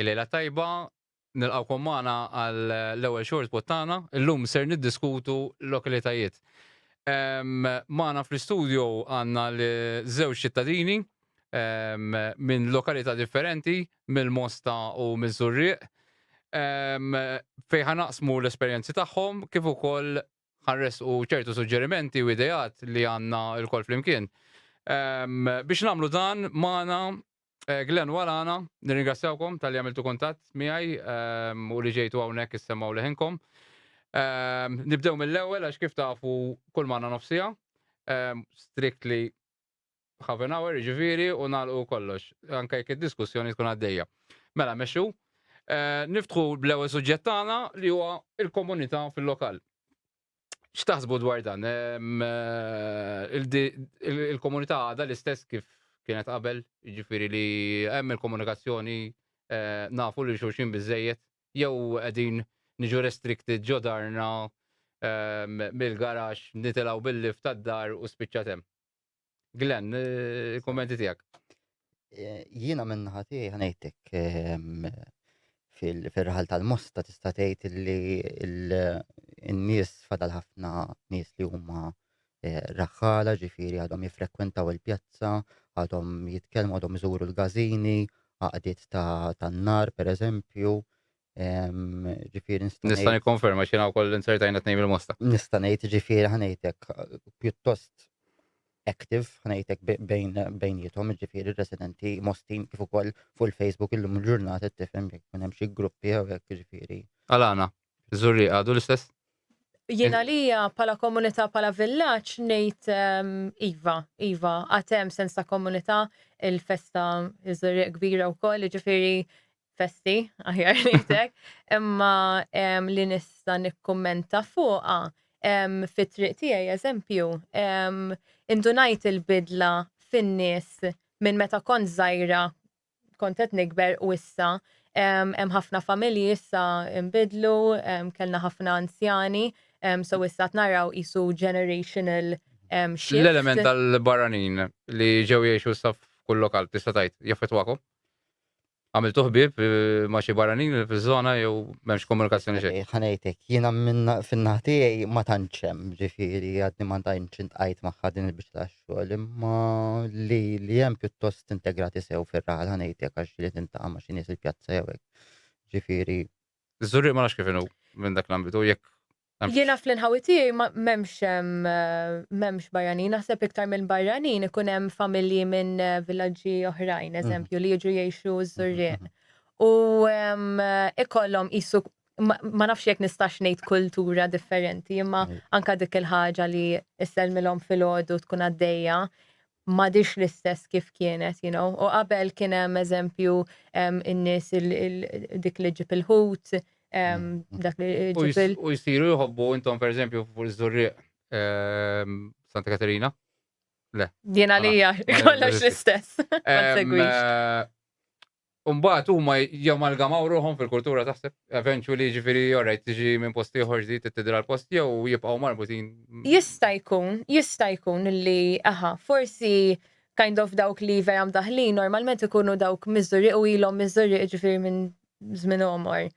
Il-lejla tajba, nilqawkom magħna għal l-ewwel short pod tagħna. Illum ser niddiskutu lokalitajiet. Magħna fl-istudio għandna l-żewġ ċittadini minn lokalità differenti, mill-Mosta u miż-Żurrieq. Fejn ħanaqsmu l-esperjenzi tagħhom kif ukoll ħanres u ċertu suġġerimenti u ideat li għanna il-kol flimkien. Um, biex namlu dan, maħna eh, Glenn Walana, nirringrazzjawkom tal-li għamiltu kontat miħaj um, u li ġejtu għawnek jissemaw leħinkom. Um, nibdew mill-ewel, għax kif tafu kull maħna nofsija, um, strictly Half an hour, ġifiri, u nagħlqu kollox, anke jekk id-diskussjoni tkun għaddejja. Mela, mexxu, eh, niftħu bl-ewwel suġġett tagħna li huwa il-komunità fil-lokal. X'taħsbu dwar dan? Eh, il-komunità għadha l-istess kif kienet qabel, ġifiri li hemm il-komunikazzjoni eh, nafu li xulxin biżejjed jew qegħdin niġu restricted ġo darna mill-garax nitilgħu bil-lift tad-dar u spiċċat hemm. Glenn, il-kummenti tiegħek. Eh, jiena minn ħati ħanejtek ehm, fil-raħal tal-mosta tista' tgħid li n-nies fadal ħafna nies li huma eh, raħħala, ġifieri għadhom jiffrekwentaw il-pjazza, għadhom jitkellmu, għadhom iżuru l-gazini, għaqdiet tan-nar, per eżempju, ġifiri nista' Nista' nikkonferma xina wkoll insertajna tnejn il-mosta. Nista' ngħid ġifiri ħanejtek pjuttost active ħanejtek bejn bejnietom ġifiri residenti mostin kif ukoll fuq il-Facebook illum il-ġurnata tifhem jekk minn hemm xi gruppi jew hekk ġifiri. Għalana. Żurrieq għadu l-istess? Jien għalija bħala komunità bħala villaġġ ngħid ehm, iva, iva, għad hemm sens ta' komunità il-festa iż-żurrieq kbira wkoll, jiġifieri festi, aħjar ngħidlek, imma ehm, li nista' nikkummenta fuqha ehm, fit-triq tiegħi eżempju, ehm, indunajt il-bidla fin-nies minn meta kont żgħira kont qed nikber u issa hemm ħafna familji issa nbidlu, kellna ħafna anzjani, so issa qed naraw qisu generational shift. L-element tal-barranin li ġew jgħixu issa f'kull lokal tista' tgħid jaffettwakom? Għamiltu ħbieb ma' xi barranin fiż-żona jew m'hemmx komunikazzjoni xejn? Ħanejtek, jiena fin-naħa tiegħi ma tantx hemm, ġifieri għadni ma tantx intqajt magħha din il-biċċa tax-xogħol. xogħol imma li li hemm pjuttost integrati sew fir-raħal ħanejtek għax li tintaqa' ma' xi nies il-pjazza jew hekk. Ġifieri. Żurriq ma nafx kif inhu minn dak l-ambitu jekk Jiena fl-inħawi tiegħi m'hemmx m'hemmx barranin, naħseb iktar minn barranin ikun hemm familji minn villaġġi oħrajn, eżempju, li jiġu jgħixu ż-Żurrieq. U ikollhom qisu ma nafx jekk nistax ngħid kultura differenti, imma mm. anka dik il-ħaġa li isselmilhom fil-ħodu tkun għaddejja madix l-istess kif kienet, you know. U qabel kien hemm eżempju in-nies dik li ġib il-ħut, mm. dak li ġib il- U jsiru jħobbu intom per eżempju fuq iż-żurrieq Santa Katerina? Le. Jena li kollox l-istess. Eh, u mbagħad huma jamalgamaw ruħhom fil-kultura taħseb eventually jiġifieri alright tiġi minn post ieħor ġdid tibdilha l-post jew jibqgħu marbutin. Jista' jkun, jista' jkun li aha, forsi kind of dawk li vera mdaħħlin normalment ikunu dawk Miżżuri u ilhom Miżżuri jiġifieri minn żmien għomor.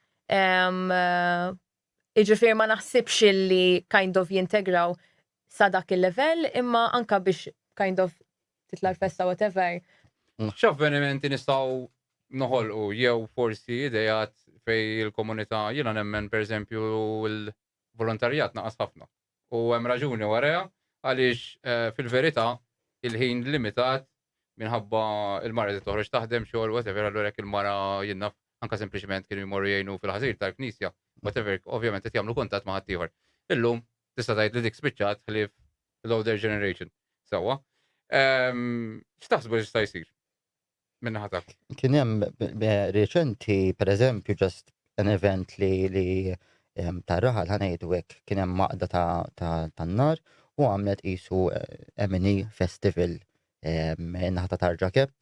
Jiġifieri ma naħsibx illi kind of jintegraw sa dak il-level imma anka biex kind of titla l-festa whatever. X'avvenimenti nistgħu noħolqu jew forsi idejat fej il-komunità jiena nemmen pereżempju l-volontarjat naqas ħafna. U hemm raġuni warajha għaliex fil-verità il-ħin limitat minħabba il-mara li toħroġ taħdem xogħol whatever allura jekk il-mara jinnaf anka sempliċement kienu jmorru jgħinu fil-ħażir tal-knisja whatever ovvjament qed jagħmlu kuntatt ma' ħaddieħor. Illum tista' tgħid li dik spiċċat ħlief l-older generation. Sewwa. Ehm, x'taħsbu li jista' jsir? minn ħadak. Kien hemm reċenti, per eżempju, ġast an event li li tar-raħal ħanejdu hekk kien hemm maqda tan-nar u għamlet qisu eh, M&E Festival naħta tarġa kep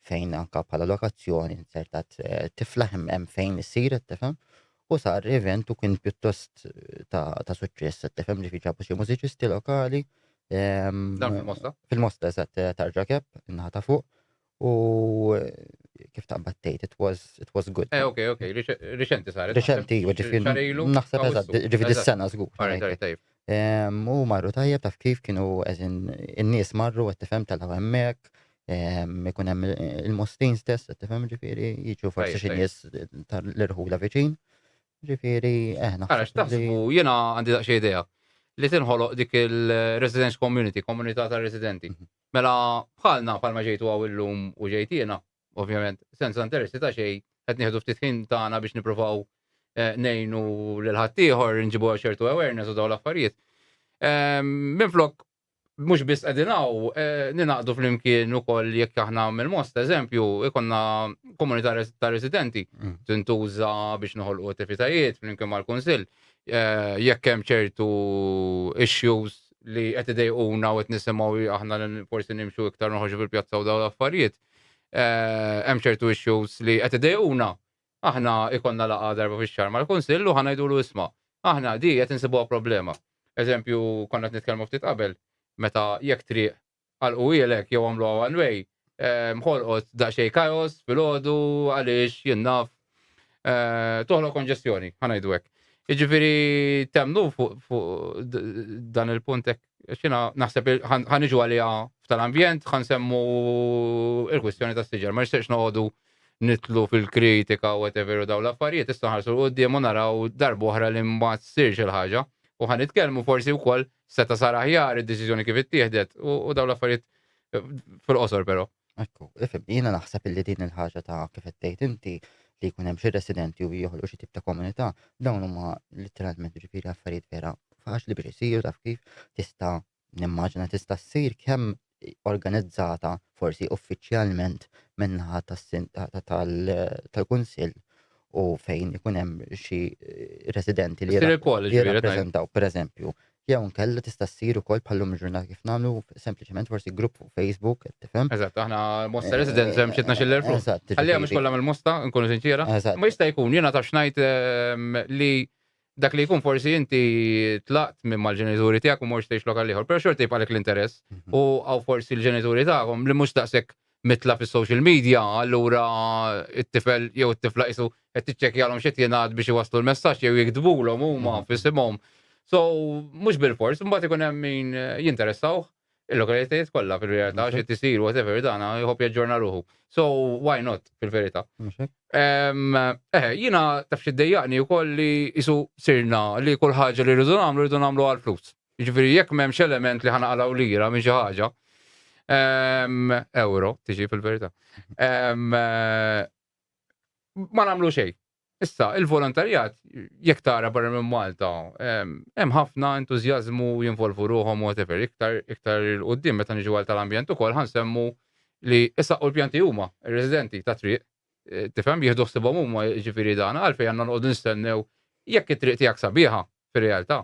fejn anka bħala lokazzjoni insertat eh, tiflaħ hemm fejn issir tifhem U sar event u kien pjuttost ta', ta suċċess, qed tifhem ġifi ġabu xi mużiċisti lokali. Ehm, Dan fil-Mosta? Fil-Mosta, eżatt, eh, tarġa kep, innaħa ta' fuq. U eh, kif ta' battejt, it was, it was good. Eh, ok, ok, riċenti saret. Riċenti, ġifi. Naħseb eżatt, ġifi dis-sena zgur. Ehm, u marru tajjeb taf kif kienu eżin in-nies marru qed tifhem tal-hemmek, Ikun hemm il-mustin stess, tifhem ġifieri, jiġu forsi xi nies tal-irħula viċin. Ġifieri, eħna. Eh, Għarax taħsbu jiena għandi daqsxi idea li tinħoloq dik il-residence community, komunità ta' residenti. Mhm. Mela bħalna bħalma ġejtu għaw illum u ġejtina, ovvjament, senza interessi ta' xej, qed nieħdu ftit ħin tagħna biex nippruvaw eh, nejnu l-ħaddieħor, nġibu ċertu awareness u daw l-affarijiet. Ehm, minflok mhux biss qegħdin hawn, eh, ninaqdu flimkien ukoll jekk aħna mill-most eżempju ikonna komunità ta' residenti mm. tintuża biex noħolqu attivitajiet flimkien mal-Kunsill. Eh, jekk hemm ċertu issues li qed idejquna u qed nisimgħu aħna forsi nimxu iktar noħorġu fil-pjazza u dawn l-affarijiet. Eh, hemm ċertu issues li qed idejquna Aħna jkollna laqgħa darba fix-xahar mal-Kunsill u ħa ngħidulu isma', aħna di qed insibuha problema. Eżempju, konna qed nitkellmu ftit qabel, meta jekk triq għalquhielek jew għamluha one way, ħolqot daqsxejn chaos filgħodu għaliex jien naf toħloq konġestjoni, ħa ngħidu hekk. Jiġifieri temmnu fuq dan il-punt hekk? Xina naħseb ħan iġu għalija f'tal-ambjent, ħan semmu il-kwistjoni ta' siġar. Ma nixtieqx noqogħdu nitlu fil-kritika u whatever u daw l-affarijiet, issa ħarsu l-qoddim u naraw darba oħra li ma tsirx il-ħaġa. U ħan nitkellmu forsi wkoll seta' sar aħjar id-deċiżjoni kif ittieħdet u daw l-affarijiet fil-qosor però. Ekku, ifhem, jiena naħseb illi din il-ħaġa ta' kif qed tgħid inti li jkun hemm xi residenti u joħolqu xi tip ta' komunità, dawn huma litteralment ġifieri affarijiet vera faċli biex isiru taf kif tista' nimmaġina tista' ssir kemm organizzata forsi uffiċjalment min-naħa tal-kunsill u fejn ikun hemm xi residenti li jirrappreżentaw pereżempju Jew inkella tista' ssir ukoll bħal-lum il-ġurnata kif nagħmlu sempliċement forsi grupp fuq Facebook, qed tifhem. Eżatt, aħna Mosta eh, Residents hemm xi tnax-il erfu. Eżatt. Ħallija mhux kollha mill-Mosta, nkunu sinċiera. Eżatt. Ma jista' jkun, jiena taf ngħid ehm, li dak li jkun forsi inti tlaqt minn mal-ġenituri tiegħek u mhux tgħix lokal ieħor, però xorti jibqalek l-interess. Mhm. U għaw forsi l-ġenituri tagħhom li mhux daqshekk mitla' fis-social media, allura t-tifel jew it-tifla qisu qed tiċċekkjalhom x'qed jingħad biex iwasslu l-messaġġ jew jiktbulhom huma mhm. f'isimhom. So, mhux bil-fors, imbagħad ikun hemm min jinteressawh il-lokalitajiet kollha fil-realtà xi tisir whatever dana jħobb jaġġorna ruħu. So why not fil-verità. Eh, jiena taf xi dejjaqni wkoll li isu sirna li kull ħaġa li rridu nagħmlu rridu nagħmlu għall-flus. Jiġifieri jekk m'hemmx element li ħanaqalgħu lira minn xi ħaġa, ehm, euro tiġi fil-verità. Ehm, eh, ma nagħmlu xejn. Issa, il-volontarjat, jekk tara barra minn Malta, ehm, hemm ħafna entużjażmu jinvolvu ruħhom whatever, iktar iktar il-qudiem meta niġu għal tal-ambjent ukoll ħansemmu li issa u l-pjanti huma ir-residenti ta' triq. eh, Tifhem jieħdu ħsibhom huma jiġifieri dan għalfejn għandna noqogħdu nistennew jekk it-triq tiegħek sabiħa fir-realtà.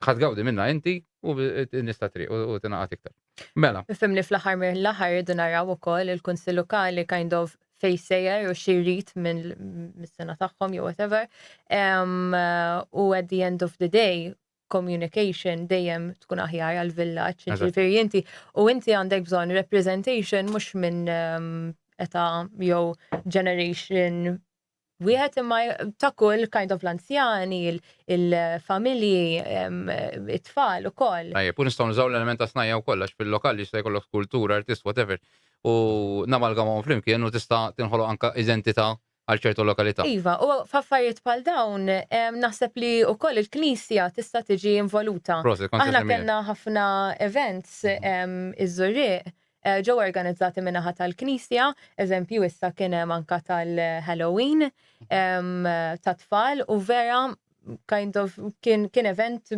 Ħa tgawdi minnha inti u n-nies tat-triq u tingħaqad iktar. Mela. Nifhem li fl-aħħar mill-aħħar irridu naraw ukoll il-Kunsill Lokali kind of fejn sejjer u xi jrid mis-sena tagħhom jew whatever. U at the end of the day, communication dejjem tkun aħjar għall-villaġġ, jiġifieri inti u inti għandek bżonn representation mhux minn età jew generation wieħed imma ta' kull kind of l-anzjani, il-familji, it-tfal ukoll. Tajjeb, u nistgħu nużaw l-element ta' snajja wkoll għax fil-lokal li jista' jkollok skultur, artist, whatever, u namalgamhom flimkien u tista' tinħoloq anke identità għal ċertu lokalità. Iva, u f'affarijiet bħal dawn naħseb li wkoll il-Knisja tista' tiġi involuta. Prosit, kont se nsemmiha. Aħna kellna ħafna events iż-Żurrieq ġew organizzati min-naħa tal-Knisja, eżempju issa kien hemm anka tal-Halloween tat-tfal u vera kind of kien event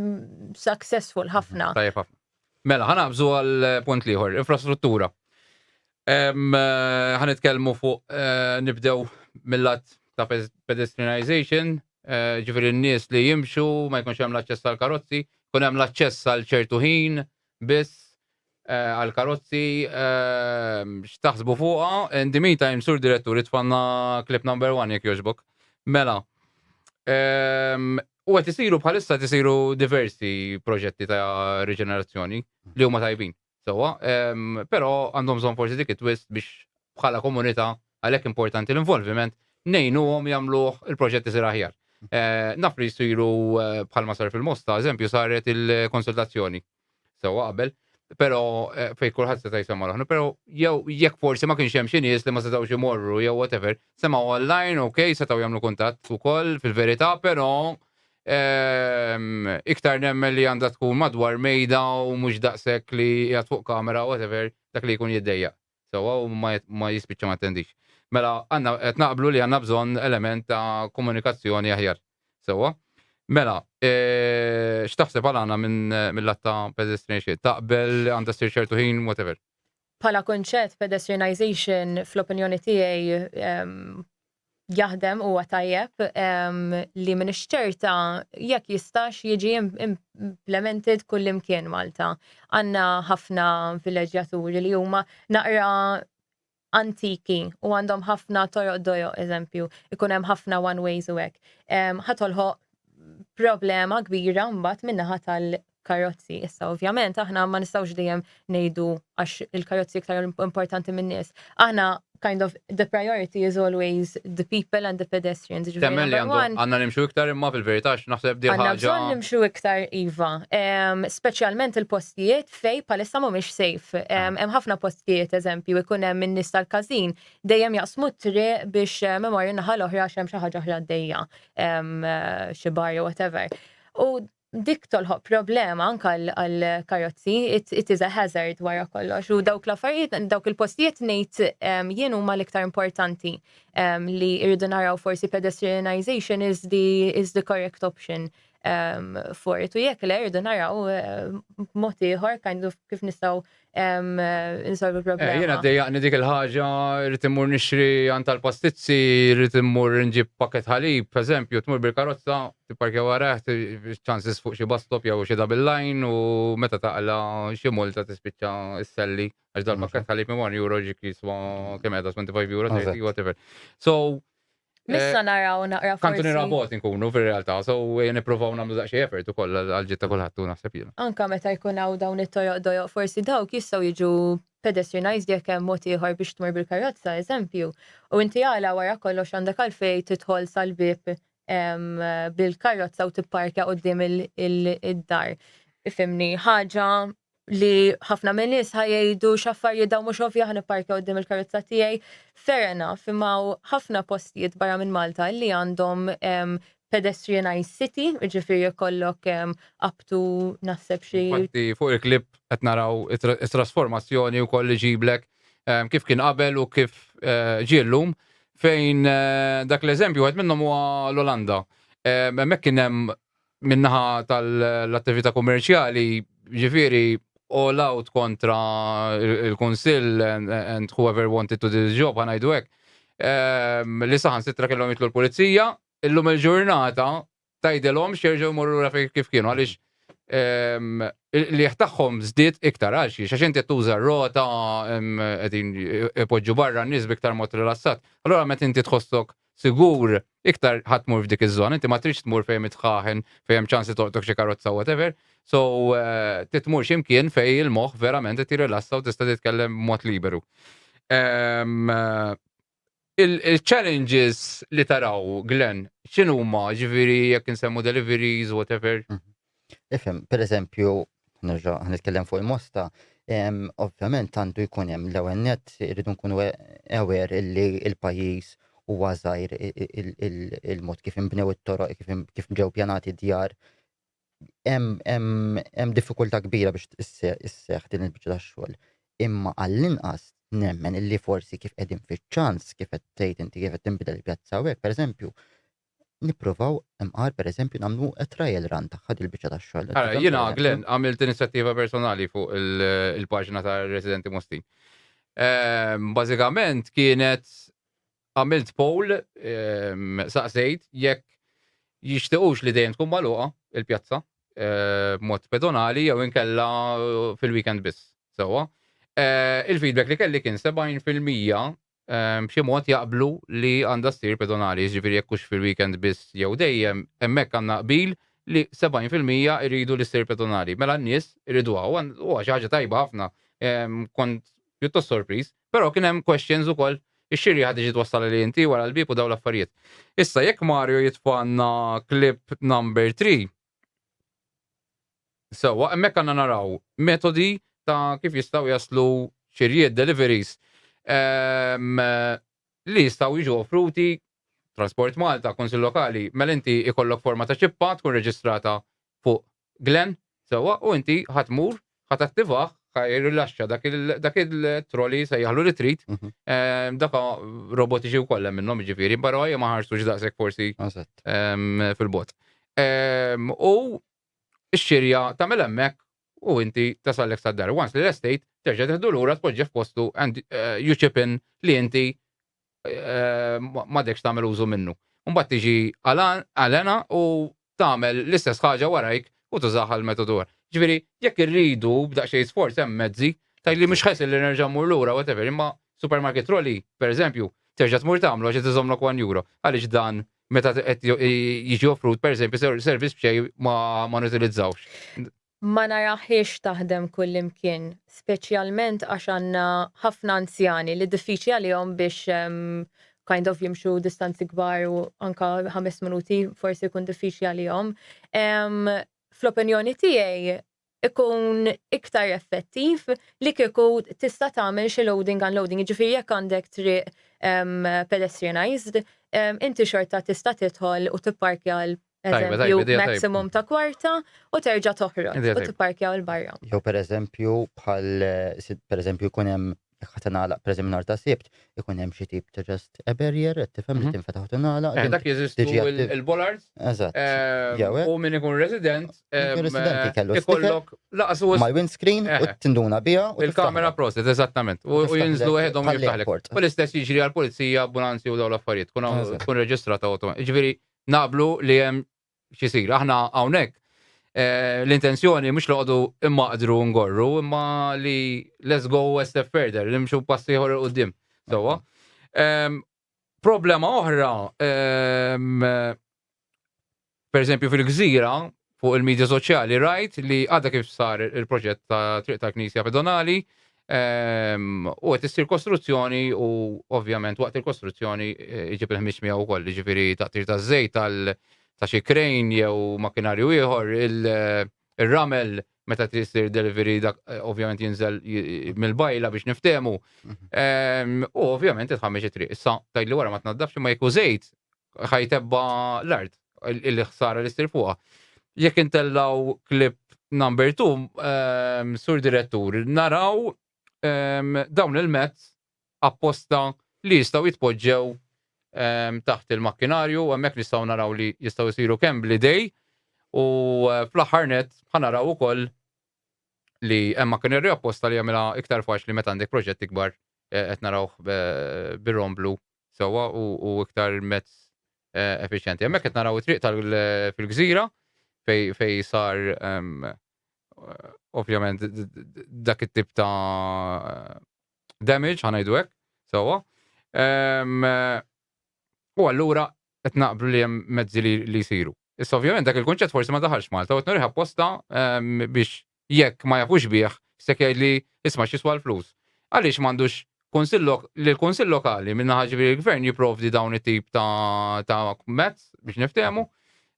successful ħafna. Tajjeb ħafna. Mela, ħanaqbżu għal punt liħor, infrastruttura. Ħanitkellmu fuq eh, nibdew mill-lat ta' pedestrianization, eh, ġifieri n-nies li jimxu, ma jkunx hemm l-aċċess tal-karozzi, kun hemm l-aċċess għal ċertu ħin, biss għal karozzi x'taħsbu fuqha in the meantime sur direttur itfanna clip number one jekk jogħġbok. Mela. U qed isiru bħalissa qed isiru diversi proġetti ta' riġenerazzjoni li huma tajbin. Sewwa, però għandhom bżonn forsi dik it-twist biex bħala komunità Għalhekk importanti l-involviment ngħinuhom jagħmluh il-proġett isir aħjar. Eh, naf li jsiru eh, bħalma sar fil-Mosta, eżempju saret il-konsultazzjoni sewwa qabel, però eh, fej kulħadd seta' jsemma l però jew jekk forsi ma kienx hemm xi nies li ma setgħux imorru jew whatever, semgħu online, ok, setgħu jagħmlu kuntatt ukoll fil-verità, però ehm, iktar nemmen li għandha tkun madwar mejda u mhux daqshekk li jgħat fuq kamera whatever dak li jkun jiddejja. sewwa u ma jispiċċa ma jattendix. Mela għandna qed naqblu li għandna bżonn element ta' komunikazzjoni aħjar. Sewwa. Mela, x'taħseb għal għandna minn mill-lat ta' pedestrianization? Taqbel għandha ssir ċertu ħin, whatever? Bħala kunċett pedestrianization fl-opinjoni tiegħi jaħdem huwa tajjeb li minix ċerta jekk jistax jiġi implemented kullimkien Malta. Għanna ħafna vileġġjaturi li huma naqra antiki u għandhom ħafna toroq dojo eżempju, ikun hemm ħafna one ways u hekk. Ħatolħoq problema kbira mbagħad minnaħa karozzi. Issa ovvjament aħna ma nistgħux dejjem ngħidu għax il-karozzi iktar importanti min-nies. Aħna kind of the priority is always the people and the pedestrians. Ġifieri Temmen li number għandu one, għandna nimxu iktar imma fil-verità x naħseb di Għanna ħaġa. bżonn nimxu iktar iva, Em, speċjalment il-postijiet fej palissa mhumiex safe. Em, Hemm ħafna postijiet eżempju ikun hemm in-nies tal-każin dejjem jaqsmu t-triq biex em, imorru naħa l-oħra għax hemm xi ħaġa oħra għaddejja, em, eh, xi bar jew whatever. U Dik tolħoq problema anke għall-karozzi, it is a hazard wara kollox u dawk l-affarijiet, dawk il-postijiet ngħid jien huma l-iktar importanti li rridu naraw forsi pedestrianisation is the is the correct option for it u jekk le rridu naraw b'mod ieħor kind of kif nistgħu insolvu problema. Eh, jena dejjaqni dik il-ħaġa, rrit immur nixri għan tal-pastizzi, rrit immur nġib paket ħalib, per eżempju, tmur bil-karozza, tipparkja waraħ, ċansis fuq xi bastop jew xi double line u meta taqla xi multa tispiċċa s-selli għax dal-paket ħalib imwan euro ġik jiswa kemm 25 euro, whatever. So, Missa eh, naraw naqra forsi. Kantu nirabot nkunu fil-realtà, so eh, niprofaw namlu daqxie effort ukoll għal-ġiet ta' kulħadd u naħseb jiena. Anka meta jkun hawn dawn it-toroq dojoq forsi dawk jistgħu jiġu pedestrianized jekk hemm mod ieħor biex tmur bil-karozza, eżempju. U inti għala wara kollox għandek għalfej tidħol sal-bib bil-karozza u tipparkja qudiem id-dar. Ifimni, ħaġa li ħafna minn nies ħajjgħidu x'affarijiet dawn mhux ovvja ħan ipparkja qudiem il-karozza tiegħi. Fair enough, imma ħafna postijiet barra minn Malta li għandhom pedestrianized city, ġifieri jkollok aptu naħseb xi. Fuq il-klip qed naraw it-trasformazzjoni wkoll li ġiblek kif kien qabel u kif eh, ġiellum fejn eh, dak l-eżempju għed minnhom huwa l-Olanda. Hemmhekk kien hemm min-naħa tal-attività kummerċjali, jiġifieri all out kontra l-Kunsill and whoever wanted to do the job, ħa ngħidu hekk, li saħansitra kellhom jitlu l-Pulizija, illum il-ġurnata tgħidilhomx jerġgħu jmorru lura fejn kif kienu għaliex il-qligħ tagħhom żdied iktar għal xiex għax inti qed tuża r-rota qegħdin ipoġġu barra n-nies b'iktar mod rilassat. Allura meta inti tħossok sigur, iktar ħa tmur f'dik iż-żona, inti ma tridx tmur fejn hemm it-tħaħen, fejn hemm ċans li tolqtok xi karozza whatever, so trid tmur xi mkien fejn il-moħħ verament qed jirrilassa u tista' titkellem b'mod liberu. Il-challenges li taraw, Glenn, x'inhuma ġifieri jekk insemmu deliveries, whatever? Ifhem, per eżempju, nerġa' nitkellem fuq il-mosta, ovvjament għandu jkun hemm l-ewwel net irridu nkunu ewer illi il-pajjiż huwa żgħir il-mod kif inbnew it-toroq, kif ġew pjanati djar. Hemm diffikultà kbira biex isseħħ din il-biċċa tax-xogħol. Imma għall-inqas nemmen illi forsi kif qegħdin fiċ-ċans kif qed tgħid inti kif qed tinbidel il-pjazza hawnhekk, pereżempju, nipprovaw imqar pereżempju nagħmlu trial run tagħha dil-biċċa tax-xogħol. Ara, jiena Glenn għamilt inizjattiva personali fuq il-paġna ta' Residenti Mustin. Ehm, bażikament kienet għamilt poll ehm, saqsejt jekk jixtiqux li dejjem tkun magħluqa il-pjazza ehm, mod pedonali jew inkella fil-weekend biss. Sewa. Eh, il-feedback li kelli kien 70% b'xi mod jaqblu li għandha ssir pedonali, jiġifieri jekk hux fil-weekend biss jew dejjem, hemmhekk għandna qbil li 70 fil-mija jridu li ssir pedonali. Mela n-nies iriduha u huwa xi ħaġa tajba ħafna. Kont pjuttost sorpriż. Però kien hemm questions ukoll ix-xirieħa tiġi twassal għalih inti wara l-bieb u dawn l-affarijiet. Issa jekk Mario jitfagħlna clip number three Sewwa, hemmhekk għandna naraw metodi ta' kif jistgħu jaslu xirjiet, deliveries, ehm, li jistgħu jiġu offruti Transport Malta, Kunsill Lokali, mela inti ikollok forma ta' ċippa tkun reġistrata fuq Glen, sewwa, u inti ħadd mur Ħa tattivah, ħa jirrilaxxa dak il dak il-troli sejjaħlu li trid. Mhm. Ehm, Daka robotiċi wkoll hemm minnhom jiġifieri, però hija ma ħarsux daqshekk forsi Eżatt. ehm, fil-bot. Ehm, U x-xirja tagħmel hemmhekk u inti tasallek sad-dar. Once li l-estate terġa' teħdu lura tpoġġi f'postu and eh, you chip in li inti m'għadekx tagħmel użu minnu. Mbagħad tiġi Alena u tagħmel l-istess ħaġa warajk u tużah għall-metodu ieħor. Ġifieri, jekk irridu b'daqsxejn sforz hemm mezzi, tgħid li mhux ħesel li nerġa' mmur lura whatever, imma supermarket trolley, pereżempju, terġa' tmur tagħmlu għax qed iżommlok one euro. Għaliex dan meta qed jiġi offrut pereżempju servizz b'xejn ma nutilizzawhx? Ma narahiex taħdem kullimkien, speċjalment għax għandna ħafna anzjani li diffiċli għalihom biex kind of jimxu distanzi kbar u anka ħames minuti forsi jkun diffiċli għalihom. Fl-opinjoni tiegħi ikun iktar effettiv li kieku tista' tagħmel xi loading unloading, jiġifieri jekk għandek triq pedestrianized, inti xorta tista' tidħol u tipparkja Eżempju, maximum ta' kwarta u terġa' toħroġ u tipparkjaw il-barra. Jew pereżempju bħal pereżempju jkun hemm jekk ħadd ingħalaq pereżempju nhar ta' Sibt, ikun hemm xi tip ta' just a barrier qed tifhem li tinfetaħ u tingħalaq. Eh, dak jeżistu il-bollards. Eżatt. Eh, u min ikun resident. Eh, residenti kellu ikollok laqsu ma' windscreen u tinduna biha. Il-kamera proset, eżattament. U jinżlu għedhom jiftaħlek. U l-istess jiġri għal-pulizija, ambulanzi u daw l-affarijiet. Kun reġistrata u Ġifieri naqblu li hemm xisir. Aħna hawnhekk eh, l-intenzjoni mhux loqdu immaqdru ngorru, imma li let's go a step further, nimxu passi ieħor il qudiem Sewwa. Ehm, problema oħra, ehm, per eżempju fil-gżira, fuq il-medja soċjali rajt li għadha kif sar il-proġett ta' triq tal-Knisja Pedonali ehm, u qed issir kostruzzjoni u ovvjament waqt il-kostruzzjoni eh, iġib il-ħmiġ miegħu wkoll, jiġifieri taqtir taż-żejt tal ta' xi krejn jew makinarju ieħor, il-ramel meta trid sir delivery dak eh, ovvjament jinżel mill-bajla biex niftehmu. Ehm, u ovvjament titħammeġ it-triq. Issa tgħidli wara ma tnaddafx ma jekk żejt ħajtebba l-art il-ħsara li ssir fuqha. Jekk intellaw klip number 2, ehm, sur direttur, naraw ehm, dawn il-mezz apposta li jistgħu jitpoġġew taħt il-makkinarju, hemmhekk nistgħu naraw li jistgħu jsiru kemm bl-idej u eh, fl-aħħar net ħanaraw ukoll li hemm makkinarju apposta li jagħmilha iktar faċli meta għandek proġett ikbar eh, qed narawh eh, bir-romblu sewwa u iktar mezz effiċjenti. Hemmhekk qed naraw it-triq tal fil-gżira fej sar ovvjament dak it-tip ta' damage, ħanajdu hekk, sewwa. Ehm, u allura qed naqblu li hemm mezzi li jsiru. Issa ovvjament dak il-kunċett forsi ma daħalx Malta u qed nuriħ apposta ehm, biex jekk ma jafux bih se jgħidli isma' x'iswa l-flus. Għaliex m'għandux li l-Kunsill Lokali minna ħaġibri l-Gvern jipprovdi dawn it-tip ta' mezz biex niftehmu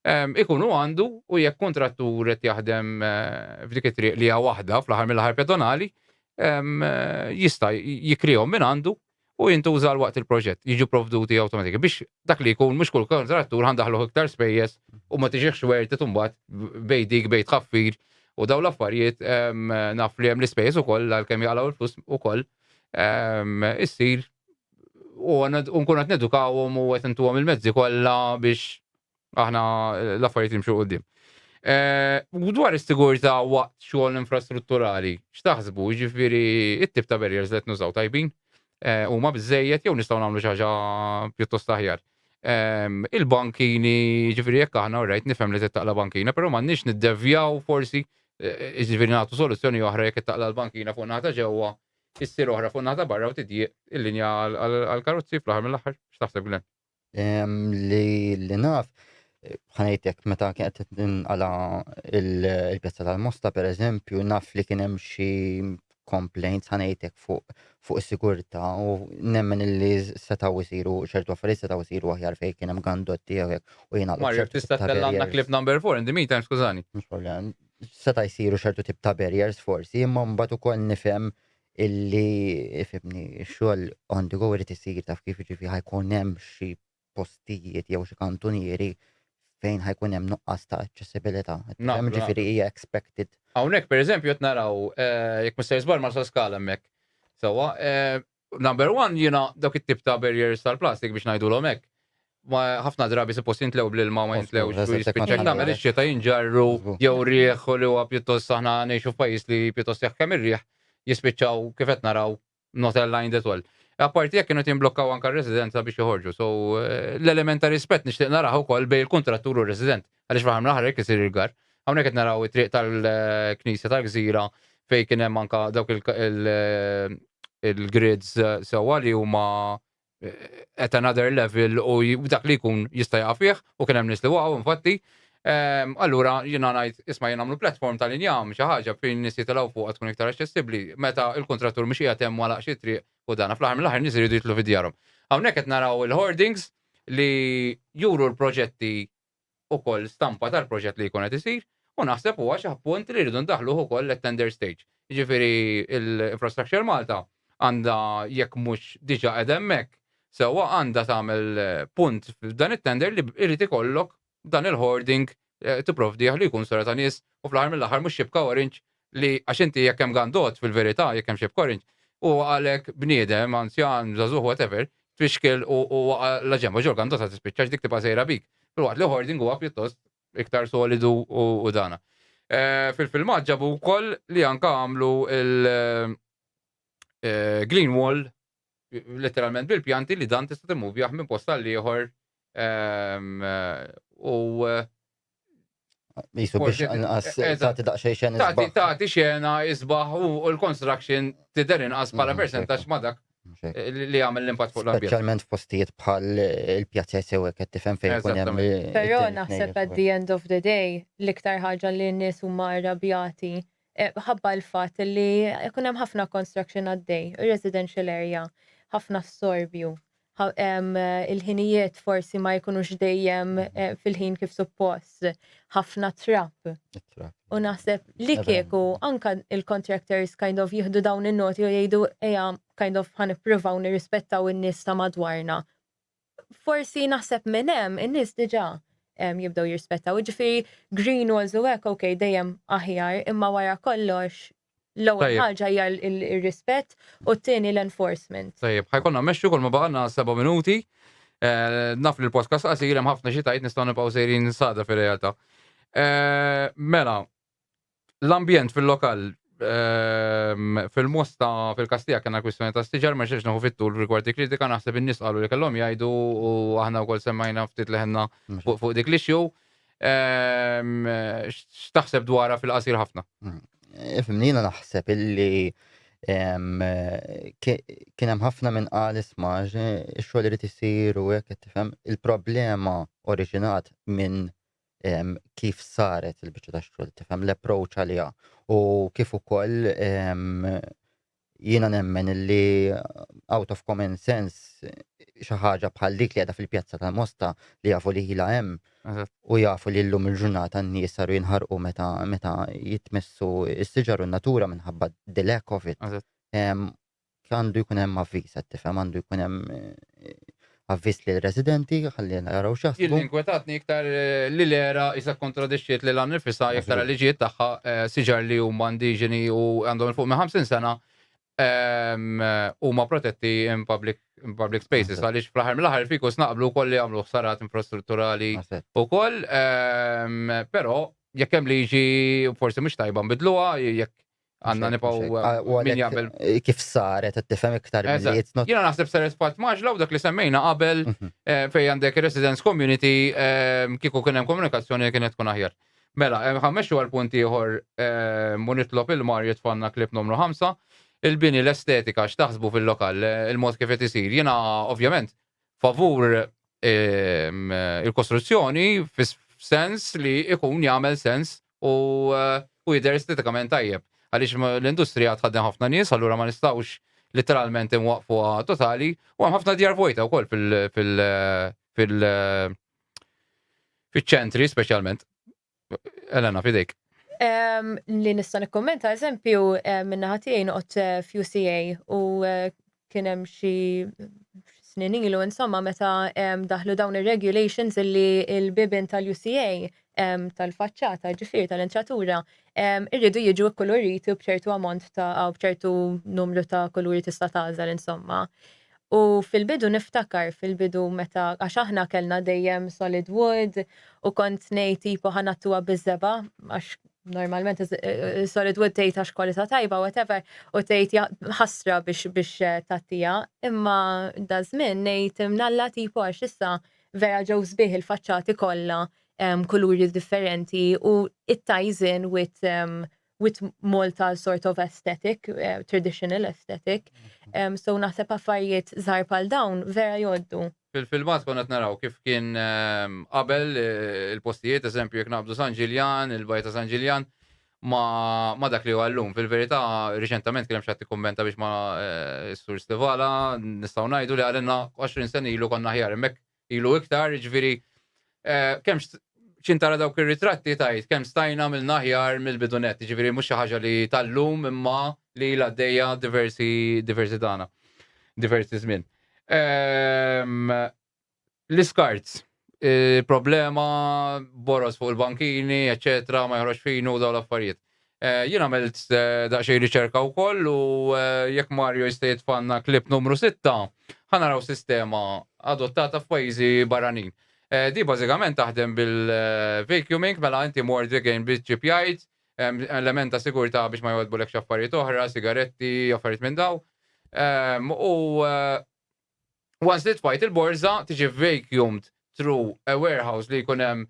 ehm, ikunu għandu u jekk kontrattur qed jaħdem eh, f'dik it-triq li hija waħda fl-aħħar mill-aħħar pedonali jista' jikrihom minn għandu u jintuża l waqt il-proġett, jiġu provduti automatika biex dak li jkun mhux kull kontrattur għandaħlu iktar spejjeż u ma tiġiħx werti tumbat bej dik bej tħaffir u daw l-affarijiet naf li hemm l-ispejjeż ukoll għalkemm jaqalgħu l-flus ukoll issir u nkun qed nedukawhom u qed intuhom il-mezzi kollha biex aħna l-affarijiet jimxu qudiem. U dwar is-sigurtà waqt xogħol infrastrutturali, x'taħsbu? Jiġifieri it-tip ta' barriers li qed nużaw tajbin huma biżejjed jew nistgħu nagħmlu xi ħaġa pjuttost aħjar. Il-bankini, jiġifieri jekk aħna rajt nifhem li tittaqla' bankina, però m'għandniex niddevjaw forsi jiġifieri nagħtu soluzzjoni oħra jekk ittaqla' l-bankina fuq naħa ta' ġewwa, issir oħra fuq naħa ta' barra u tidjieq il-linja għall-karozzi fl-aħħar mill-aħħar. X'taħseb Glenn? Li li naf, ħanajtek meta kienet tinqala il-pjazza tal-Mosta per eżempju, naf li kien hemm xi complaints ħanajtek fuq fuq is-sigurtà u nemmen li setgħu jsiru ċertu affarijiet setgħu jsiru aħjar fejn kien hemm gandotti jew hekk u jiena Mario, tista' tellgħanna clip number 4 in the meantime, skużani. Mhux problem. Seta' jsiru ċertu tip ta' barriers forsi, imma mbagħad ukoll nifhem illi fimni xogħol on the go irid isir taf kif jiġifieri ħajkun hemm xi postijiet jew xi kantunieri fejn ħajkun hemm nuqqas ta' aċċessibilità. Hemm ġifieri hija expected. Hawnhekk pereżempju qed naraw eh, jekk mister żbar ma skala hemmhekk. Sewwa, eh, number one jiena dawk it-tip ta' barriers tal-plastik biex ngħidulhom hekk. ma ħafna drabi suppost jintlew bl-ilma ma jintlewx u jispiċċa tagħmel ix-xita jinġarru jew rieħ li huwa pjuttost aħna ngħixu f'pajjiż li pjuttost jaħkem ir-rieħ jispiċċaw kif qed naraw not aligned that well. Apparti jekk kienu timblokkaw anke r-residenza biex joħorġu. So eh, l-element ta' rispett nixtieq naraħ ukoll bejn il-kuntrattur u r-resident. Għaliex fl-aħħar mill-aħħar jekk isir il-gar. Hawnhekk qed naraw it-triq tal-Knisja tal-Gżira fejn kien hemm anke dawk il-grids eh, sewwa li huma at another level u dak li jkun jista' jaqa' fih u kien hemm nies li waqgħu infatti. Ehm, allura jiena ngħid isma' jien nagħmlu platform tal-injam xi ħaġa fejn nies jitilgħu fuqha tkun iktar aċċessibbli meta l-kuntrattur mhux qiegħed hemm għalaq xi triq u dana fl-aħħar mill-aħħar nies iridu jitlu fi djarhom. Hawnhekk qed naraw il-hoardings li juru l-proġetti ukoll stampa tal-proġett li jkun qed isir u naħseb huwa xi punt li rridu ndaħħluh ukoll at-tender stage. Jiġifieri l-Infrastructure Malta għandha jekk mhux diġà qiegħda hemmhekk, sewwa għandha tagħmel punt f'dan it-tender li jrid ikollok dan il-hoarding tipprovdih li jkun sura ta' nies u fl-aħħar mill-aħħar mhux xibka orange Li għax inti jekk hemm gandot fil-verità, jekk hemm xi b'korinġ, huwa għalhekk bniedem, anzjan, żagħżugħ whatever, tfixkel u u waqa' la ġenb għax ġol gandot ħa tispiċċa għax dik tibqa' sejra bik. Filwaqt li hoarding huwa pjuttost iktar solidu u u dana. Fil-filmat ġabu wkoll li anke għamlu l-green wall letteralment bil-pjanti li dan tista' timmuvjah minn post għal ieħor ehm, u Jisu biex inqas tagħti daqsxejn xena. Tagħti tagħti xena isbaħ u l-construction tidher inqas bħala mm, percentax ma' dak eh, li għamil l-impatt fuq l-ambjent. Speċjalment f'postijiet bħal eh, il-pjazza sew qed tifhem fejn kun hemm. Però naħseb at the end of the day l-iktar ħaġa li n-nies huma arrabjati Ħabba l-fatt li jkun hemm ħafna construction għaddej, residential area, ħafna storbju, il-ħinijiet forsi ma jkunux dejjem eh, fil-ħin kif suppost, ħafna trap. U naħseb li kieku anka il-contractors kind of jihdu dawn in-noti u jgħidu eja kind of ħan ippruvaw nirrispettaw in-nies ta' madwarna forsi naħseb minn hemm in-nies diġà jibdew jirspettaw. Ġifieri green walls u hekk ok dejjem aħjar imma wara kollox l-ewwel ħaġa hija r-rispett u t-tieni l-enforcement. Tajjeb, ħajkonna mmexxu kull ma baqgħalna seba' minuti. Naf li l-podcast qasir hemm ħafna xi tgħid nistgħu nibqgħu sejrin sada fir-realtà. Mela, l-ambjent fil-lokal ehm, fil-mosta fil-kastija kena kwistjoni ta' stiġar ma xiex naħu fit-tul rigward dik kritika naħseb in-nies qalu li kellhom jgħidu u aħna wkoll semmajna ftit leħenna fuq dik l-issue. Ehm, x'taħseb dwarha fil-qasir ħafna? Mm. Fimnina naħseb illi ehm, kien hemm ħafna minn qal ismaġ ix-xogħol irid isir u hekk tifhem il-problema oriġinat minn kif saret il-biċċa ta' xogħol, tifhem l-approach għaliha u kif ukoll jiena nemmen li out of common sense xi ħaġa bħal dik li għadha fil-pjazza tal-Mosta li jafu li ħila hemm u jafu li llum il-ġurnata n-nies saru jinħarqu meta meta jitmessu s-siġar u n-natura minħabba the lack of it. għandu jkun hemm avviż, qed tifhem għandu jkun hemm avviż li residenti ħalli naraw xaħsbu. Jien inkwetatni iktar li l-era isa kontradixxiet li lan nifisa iktar liġijiet tagħha siġar li huma indiġeni u għandhom fuq minn 50 sena huma protetti in public in public spaces għaliex fl-aħħar mill-aħħar fiku snaqblu wkoll li jagħmlu ħsarat infrastrutturali wkoll però jekk hemm liġi forsi mhux tajba nbidluha jekk Għanna nipaw min jgħamil. Kif saret, t-tifem iktar bizziet. Jena naħseb saret pat maġla u dak li semmejna qabel mhm. eh, fej għandek residence community eh, kiku kienem komunikazzjoni kienet tkun aħjar. Mela, eh, ħammexu għal punti ieħor munitlob il-mar jitfanna klip numru 5. Il-bini l-estetika x'taħsbu fil-lokal, il-mod kif qed isir. Jiena ovvjament favur ehm, il-kostruzzjoni fis-sens li ikun jagħmel sens u eh, u jidher estetikament tajjeb. Għaliex l-industrija tħadden ħafna nies, allura ma nistgħux literalment imwaqfuha totali u hemm ħafna djar vojta wkoll fil- fil- fil- fil-ċentri speċjalment. Elena, fidejk. Li nista' nikkommenta eżempju minna ħatijaj noqgħod eh, f'UCA u eh, kien hemm xi snin ilu insomma meta daħlu dawn ir-regulations illi l-bibin tal-UCA tal-faċċata ġifieri tal-entratura irridu jiġu kkuluriti b'ċertu ammont ta' b'ċertu numru ta' kuluri tista' tagħżel insomma. U fil-bidu niftakar fil-bidu meta għax aħna kellna dejjem solid wood u kont ngħid tipo ħa ngħattuha biż-żebgħa għax normalment solid wood tgħid għax kwalità tajba whatever u tgħid ħasra biex biex tagħtiha imma daż-żmien ngħid mnalla tipo għax issa vera ġew sbieħ il-faċċati kollha kuluri differenti u it-ties in with with Malta sort of aesthetic, uh, traditional aesthetic. Um, so naħseb affarijiet żgħar pal dawn vera joddu. Fil-filmat konna naraw kif kien ehm, qabel eh, il-postijiet, eżempju, jek naqbdu San Ġiljan, il-bajta San Ġiljan, ma, ma dak li għallum. Fil-verità, riċentament kien hemm xatti kummenta biex ma eh, s-sur Stivala nistgħu ngħidu li għalenna 20 sen ilu konna ħjar hemmhekk ilu iktar, jiġifieri kemm x'in tara dawk ir-ritratti tgħid kemm stajna għamilna aħjar mill-bidu nett, jiġifieri mhux xi ħaġa li tal-lum imma li ilha għaddejja diversi diversi tagħna, diversi żmien. L-iskart, problema, boroż fuq il-bankini, eċċetera, ma joħroġx finu dawn l-affarijiet. Jien għamilt daqsxejn riċerka wkoll u jekk Mario jista' jitfgħalna clip numru sitta, ħa naraw sistema adottata f'pajjiżi barranin. Din bażikament taħdem bil-vacuuming, mela inti mort vegan bit-ċip jgħid, hemm element ta' sigurtà biex ma jgħoddbulekx affarijiet oħra, sigaretti, affarijiet minn dawn. U once li tfajt il-borża tiġi vacuumed through a warehouse li jkun hemm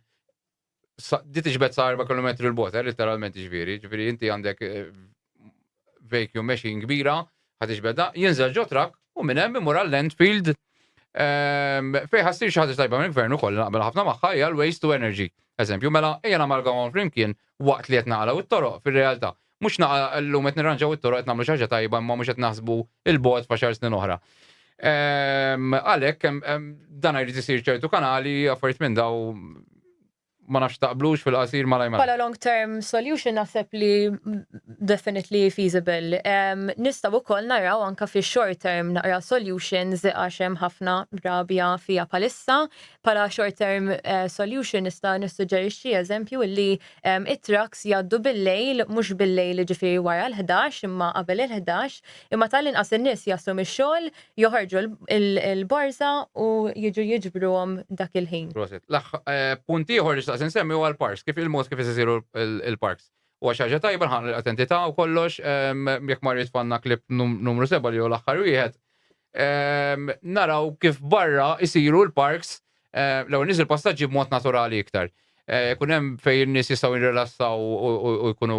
di tiġbed sa 4 km il bota eh, literalment ġviri, ġviri inti għandek eh, vacuum machine kbira, ħad iġbedha, jinżel ġo trak u minn hemm imur għall-landfield ehm, fejn ħassir xi ħaġa tajba minn gvern ukoll naqbel ħafna magħha hija l-waste to energy. Eżempju, mela ejja namalgamhom flimkien waqt li qed naqalgħu t-toroq fir-realtà. Mhux naqa' llum qed nirranġaw it-toroq qed nagħmlu xi ħaġa tajba imma mhux qed naħsbu 'l bogħod f'għaxar snin oħra. Għalhekk dan jrid isir ċertu kanali, affarijiet minn daw ma nafx taqblux fil-qasir malaj malaj. Bħala long term solution naħseb li definitely feasible. Nistgħu wkoll naraw anke fi short term naqra solutions għax hemm ħafna rabja fiha bħalissa. Bħala short term solution nista' nissuġġerixxi eżempju li It-trucks jgħaddu bil-lejl, mhux bil-lejl jiġifieri wara l-ħdax imma qabel il-ħdax, imma tal-inqas in-nies jaslu mix-xogħol, joħorġu l-borża u jiġu jiġbruhom dak il-ħin. Proset. Punt ieħor li xtaqt insemmi huwa l-parks, kif il-mod kif qed isiru l-parks. Huwa xi ħaġa tajba, nħaqqna l-attentità u kollox, jekk ma rridx tfal naqleb numru seba' li hu l-aħħar wieħed, naraw kif barra isiru l-parks l-ewwel nies il-passaġġi b'mod naturali iktar. Kun hemm fejn in-nies jistgħu jirrilassaw u jkunu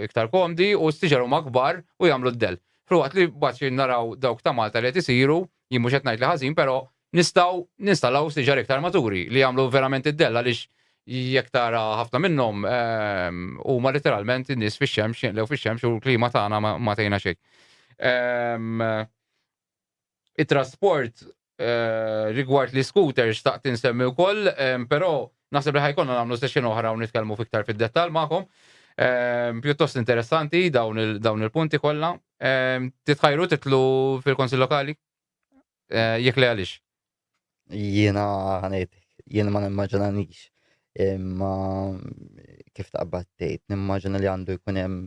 iktar komdi u s-siġar huma kbar u jagħmlu d-del. Filwaqt li baċi naraw dawk ta' Malta li qed isiru, jien mhux qed ngħid li ħażin, però nistgħu ninstallaw siġar iktar maturi li jagħmlu verament id-dell għaliex jekk tara ħafna minnhom huma literalment in-nies fix-xemx, jinqlew fix-xemx u l-klima tagħna ma tgħinha xejn. It-trasport rigward l-iscooters xtaqt insemmi wkoll, però naħseb li ħajkonna nagħmlu session oħra u nitkellmu fiktar fid-dettall magħkom. Pjuttost interessanti dawn il-punti kollha. Titħajru titlu fil-Konsil Lokali? Jekk le għaliex? Jiena ħanejt, jiena ma nimmaġinanix imma kif taqbad tgħid, nimmaġina li għandu jkun hemm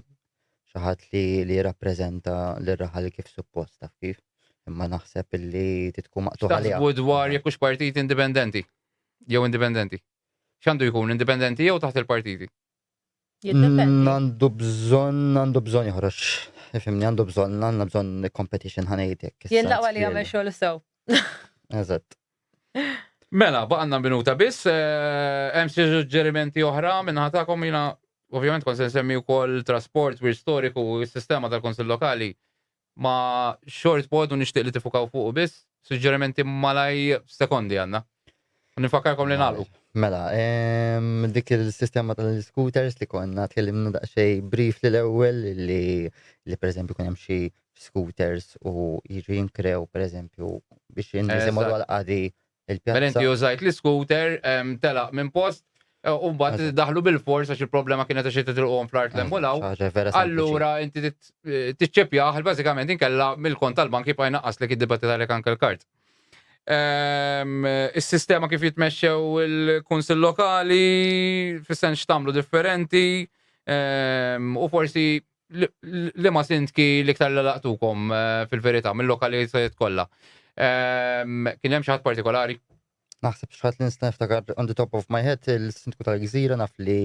xi ħadd li li jirrappreżenta lir-raħal kif suppost taf kif. Imma naħseb illi titku maqtuħ għaliha. Taħsbu dwar jekk hux partit indipendenti jew indipendenti. X'għandu jkun indipendenti jew taħt il-partiti? Jiddependi. Għandu bżonn, għandu bżonn joħroġ. Ifimni, għandu bżonn, għandna bżonn competition ħanejtek. Jien laqwa li jagħmel xogħol sew. Eżatt. Mela, baqanna minuta biss, eh, hemm xi suġġerimenti oħra minn ħatakom jiena ovvjament kont se nsemmi wkoll trasport, wir storiku, s-sistema tal-Konsil Lokali Ma short pod u nixtieq li tifukaw fuqu biss, suġġerimenti malaj f'sekondi għandna. U nifakkarkom li nagħlqu. Mela, dik il-sistema tal-scooters li konna tkellimna daqsxej brief li l-ewwel li pereżempju kien hemm xi scooters u jiġu jinkrew pereżempju biex jinżimgħu għal qadi Mela inti użajt l-iskuter, telaq minn post, u mbagħad daħlu bil-fors għax il-problema kienet għax titilqhom fl-art l u law. Allura inti tiċċepjaħ bażikament inkella mill-kont tal-bank jibqa' jnaqqas li kiddibati tal anke l-kart. Ehm, is-sistema kif jitmexxew il-kunsil lokali, fis-sens x'tamlu differenti, ehm, u forsi Liema sindki l-iktar li laqtukom eh, fil-verità mill-lokalitajiet kollha? Ehm, kien hemm xi ħadd partikolari? Naħseb xħat li nista' niftakar on the top of my head il-sindku tal-gżira naf li.